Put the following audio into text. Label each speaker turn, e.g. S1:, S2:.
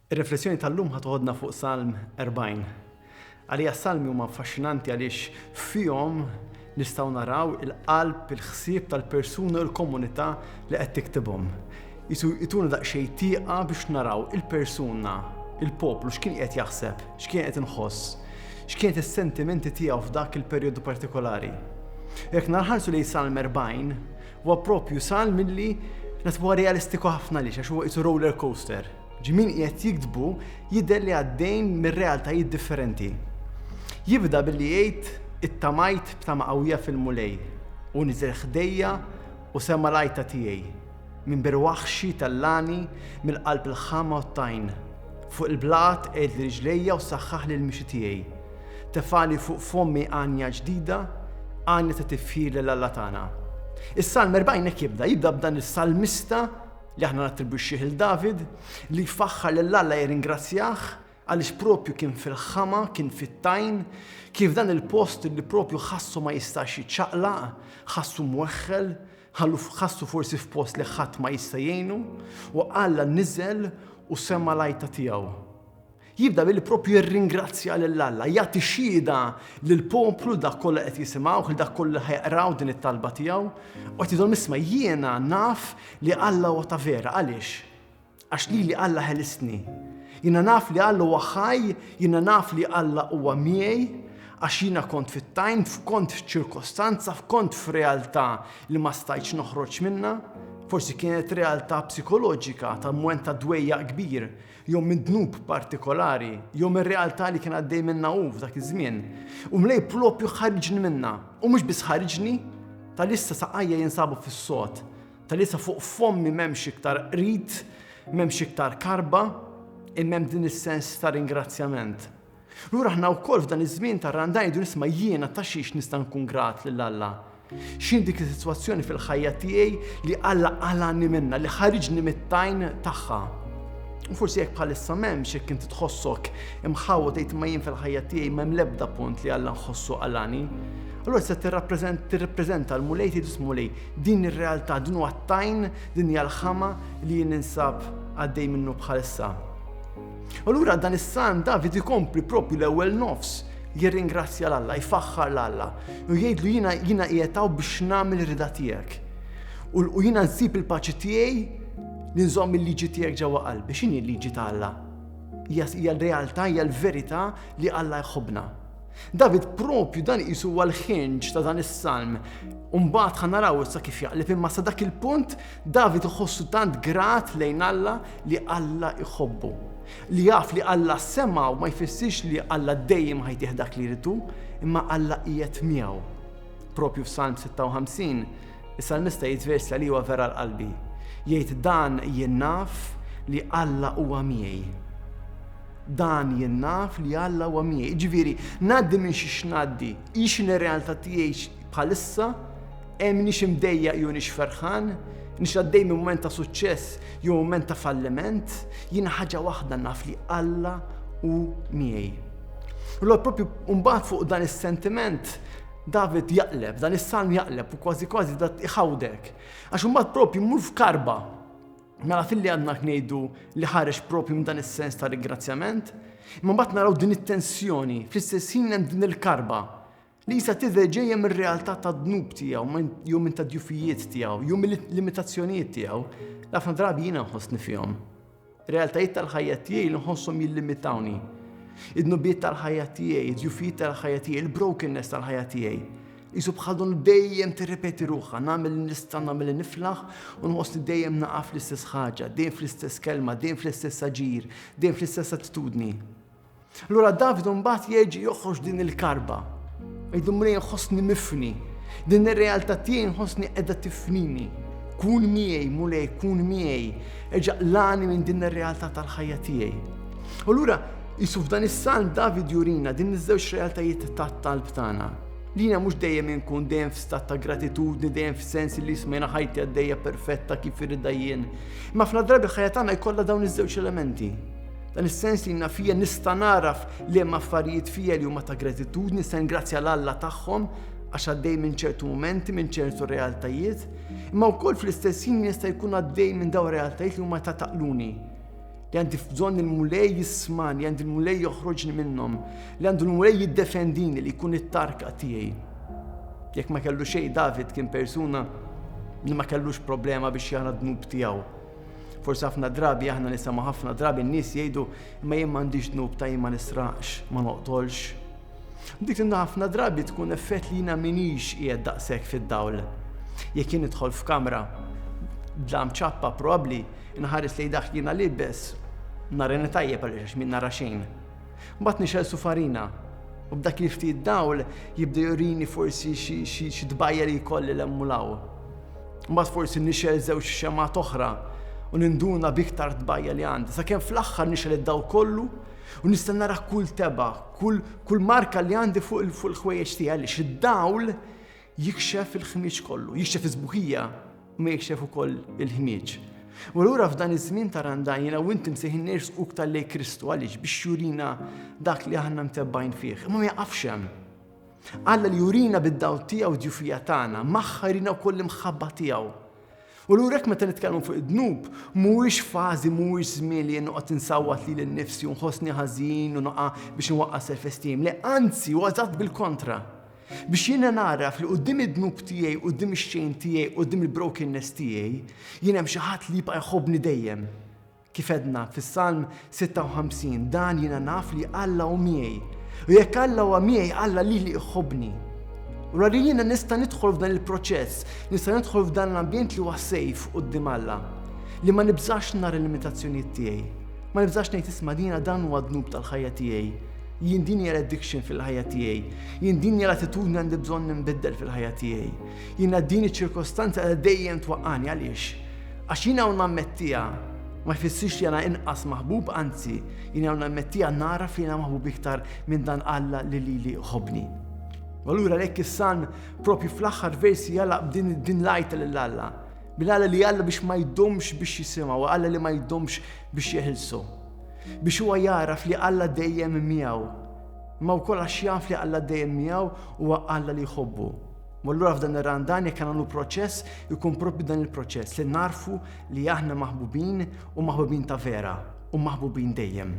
S1: Ir-riflessjoni tal-lum ħa toħodna fuq Salm 40. Għalija s-Salmi huma affaxxinanti għaliex fihom nistgħu naraw il-qalb, il-ħsieb tal-persuna u l-komunità li qed tiktibhom. Jisu jtuna daqsxejn tieqa biex naraw il-persuna, il-poplu x'kien qed jaħseb, x'kien qed inħoss, x'kienet is-sentimenti tiegħu f'dak il-perjodu partikolari. Jekk narħarsu lejn Salm 40, Huwa proprju salm illi nasbu huwa realistiku ħafna għaliex għax huwa qisu roller coaster. Ġi min qiegħed jiktbu jidher li għaddejn minn realtajiet differenti. Jibda billi jgħid ittamajt b'tama qawwija fil-Mulej u niżel ħdejja u sema' l-għajta tiegħi. Minn bir waħxi tellagħni mill-qalb il-ħama u t-tajn. Fuq il-blat qegħidli riġlejja u saħħaħli l-mixi tiegħi. Tefali fuq fommi għanja ġdida, għanja ta' tifħir lil Alla tagħna. Is-Salm 40 hekk jibda, jibda b'dan is-salmista li aħna nattribwixxih lil David li jfaħħar lil Alla jirringrazzjah għaliex propju kien fil-ħama, kien fit-tajn, kien f'dan il-post li propju ħassu ma jistax jiċċaqlaq, ħassu mweħħel, ħassu forsi f'post li ħadd ma jista' jgħinu, u Alla niżel u sema' l-għajta tiegħu. Jibda billi proprju jirringrazzja lil Alla, jagħti xhieda lill-poplu, dak kollha qed jisimgħuh, lil dak kollu li ħajaqraw din it-talba tiegħu, u qed jgħidhom isma' jiena naf li Alla huwa ta' vera, għaliex? Għax lili Alla ħelistni. Jiena naf li Alla huwa ħaj, jiena naf li Alla huwa miegħi, għax jiena kont fit-tajn, f'kont f'ċirkostanza, f'kont f'realtà li ma stajtx noħroġ minnha, forsi kienet realtà psikoloġika ta' mwent ta' dwejjaq kbir, jew minn dnub partikolari, jew mir-realtà li kien għaddej minnha hu f'dak iż-żmien, u Mlej proprju ħariġni minnha, u mhux biss ħariġni, talissa saqajja jinsabu fis-sod, talissa fuq fommi m'hemmx iktar qrid, m'hemmx iktar karba, imma hemm din is-sens ta' ringrazzjament. Lura aħna wkoll f'dan iż-żmien tar-rand ngħidu nisma' jiena ta' xiex nista' nkun grat lil Alla? X'inhi dik is-sitwazzjoni fil-ħajja tiegħi li Alla qalagħni minnha, li ħariġni mit-tajn tagħha? U forsi jekk bħalissa m'hemmx jekk inti tħossok imħawwa tgħid ma jien fil-ħajja tiegħi m'hemm l-ebda punt li Alla nħossu qalani. Allura se tirrappreżenta l-Mulej tgħid Mulej, din ir-realtà, din huwa t-tajn, din hija l-ħama li jien ninsab għaddej minnu bħalissa. Allura dan is-Salm David ikompli propju l-ewwel nofs jirringrazzja l Alla, jfaħħar l Alla u jgħidlu jiena jiena qiegħtaw biex nagħmel rida tiegħek. U jiena nsib il-paċi tiegħi li nżomm il-liġi tiegħek ġewwa qalbi. X'inhi l-liġi ta' Alla? Hija l-realtà, hija l-verità li Alla jħobbna. David propju dan isu għal ħinġ ta' dan is-salm. Umbagħad ħa naraw issa kif jaqleb imma sa dak il-punt David iħossu tant grat lejn Alla li Alla jħobbu. Li jaf li Alla semgħu ma jfissirx li Alla dejjem ħa jtih dak li jrid hu, imma Alla qiegħed miegħu. Proprju f'Salm 56, is-salmista jgħid vers li huwa vera l-qalbi. Jgħid dan jien naf li Alla huwa miegħi dan jinnaf li Alla huwa miegħi. Ġifieri, ngħaddi minn xi xnaddi, ix in-realtà tiegħi Bħalissa, e m'iniex imdejjaq jew iniex ferħan, iniex għaddej minn mument ta' suċċess jew mument ta' falliment, jiena ħaġa waħda naf li Alla hu miegħi. U l propju mbagħad fuq dan is-sentiment David jaqleb, dan is-salm jaqleb u kważi kważi dat iħawdek. Għax imbagħad propju mmur f'karba. Mela fil-li għadna ngħidu li ħareġ propju minn dan is-sens ta' ringrazzjament, imma mbagħad naraw din it-tensjoni, fl-istess ħin hemm din il-karba. Lisa tidher ġejja mir-realtà tad-dnub tiegħu, jew minn tad-djufijiet tiegħu, jew mill-limitazzjonijiet tiegħu, ħafna drabi jiena nħossni fihom. Realtajiet tal-ħajja tiegħi li nħossom jillimitawni. Id-dnubijiet tal-ħajja tiegħi, id-djufijiet tal-ħajja tiegħi, il-brokenness tal-ħajja tiegħi. Isu bħal dun dejjem tirrepeti ruħha, nagħmel nista' nagħmel niflaħ u nħossni dejjem naqaf l-istess ħaġa, dejjem fl-istess kelma, dejjem fl-istess aġir, dejjem fl-istess attitudni. Lura Davidu mbagħad jeġi joħroġ din il-karba. Jgħidu mri nħossni mifni. Din ir-realtà tiegħi nħossni qiegħda tifnini. Kun miegħi, mulej, kun miegħi. Eġa' lani minn din ir-realtà tal-ħajja tiegħi. U lura Jisu f'dan is-salm David jurina din iż-żewġ realtajiet tat-talb tagħna. Lina mhux dejjem inkun dejjem f'stat ta' gratitudni, dejjem f'sens li jismejna ħajti għaddejja perfetta kif irridha jien. Ma fl-drabi ħajja tagħna jkollha dawn iż-żewġ elementi. Dan is-sens li jiena fija nista' nagħraf liema affarijiet fija li huma ta' gratitudni, nista' ningrazzja l Alla tagħhom għax għaddej minn ċertu mumenti, minn ċertu realtajiet, imma wkoll fl-istess ħin jista' jkun għaddej minn dawn realtajiet li huma ta' taqluni li għandi f'bżonn il-mulej jisman, li għandi il-mulej joħroġni minnhom, li għandu l-mulej jiddefendini li jkun it-tarka tiegħi. Jekk ma kellu xejn David kien persuna li ma kellux problema biex jara dnub tiegħu. Forsi ħafna drabi aħna nisimgħu ħafna drabi n-nies jgħidu imma jien m'għandix dnub ta' jien ma nisraqx, ma noqtolx. Dik inna ħafna drabi tkun effett li jiena minix qiegħed daqshekk fid-dawl. Jekk jien nidħol f'kamra bla mċappa probabbli nħares lejn dak jiena libes narani tajjeb għaliex min nara xejn. Mbagħad nixel sufarina u b'dak li ftit dawl jibda jurini forsi xi tbajja li jkolli l-emmulaw. Mbagħad forsi nixgħel żewġ xemgħat oħra u ninduna b'iktar tbajja li għandi, sakemm fl-aħħar nixgħel id-daw kollu u nista' nara kull teba, kull, kull marka li għandi fuq il-ħwejjeġ tiegħi għaliex id-dawl jikxef il-ħmieġ kollu, jikxef iż-żbuħija ma jikxef ukoll il-ħmieġ. U allura f'dan iż-żmien ta' randajna u inti msejħin nersqu iktar lej Kristu għaliex biex jurina dak li aħna mtebbajn fih. Imma ma jaqafx hemm. Alla li jurina bid-dawl tiegħu djufija tagħna, magħha jrina wkoll l-imħabba tiegħu. U l urek meta nitkellmu fuq id-dnub, mhuwiex fażi, mhuwiex żmien li jien noqgħod insawwat lili nnifsi u nħossni ħażin u noqa' biex nwaqqa' self-esteem. Le, anzi, huwa eżatt bil-kontra. Biex jiena naraf li qudiem id-dnub tiegħi, qudiem ix-xejn tiegħi, qudiem il-brokenness tiegħi, jien hemm xi ħadd li jibqa' jħobbni dejjem. Kif għedna fis-Salm 56, dan jiena naf li Alla hu miegħi. U jekk Alla huwa miegħi, Alla lili jħobbni. U li jiena nista' nidħol f'dan il-proċess, nista' nidħol f'dan l-ambjent li huwa sejf quddiem Alla, li ma nibżax nar il-limitazzjonijiet tiegħi. Ma nibżax ngħid isma' dina dan huwa dnub tal-ħajja tiegħi. Jien din hija addiction fil-ħajja tiegħi. Jien din hija l-attitudni għandi bżonn nimbiddel fil-ħajja tiegħi. Jiena din iċ-ċirkostanza dejjem twaqqani għaliex? Għax jien hawn nammettiha ma jfissirx li jiena inqas maħbub, anzi, jien hawn nammettiha nagħraf li jiena maħbub iktar minn dan Alla li lili jħobbni. U allura għalhekk is-Salm propju fl-aħħar versi jagħlaq b'din din l-għajta lil Alla. Bil Alla li Alla biex ma jdomx biex jisimgħu, Alla li ma jdomx biex jeħilsu. Biex huwa jagħraf li Alla dejjem miegħu. Ma wkoll għax jaf li Alla dejjem miegħu huwa Alla li jħobbu. U allura f'dan ir-randan jekk għandu proċess, ikun propju dan il-proċess li narfu li aħna maħbubin u maħbubin ta' vera u maħbubin dejjem.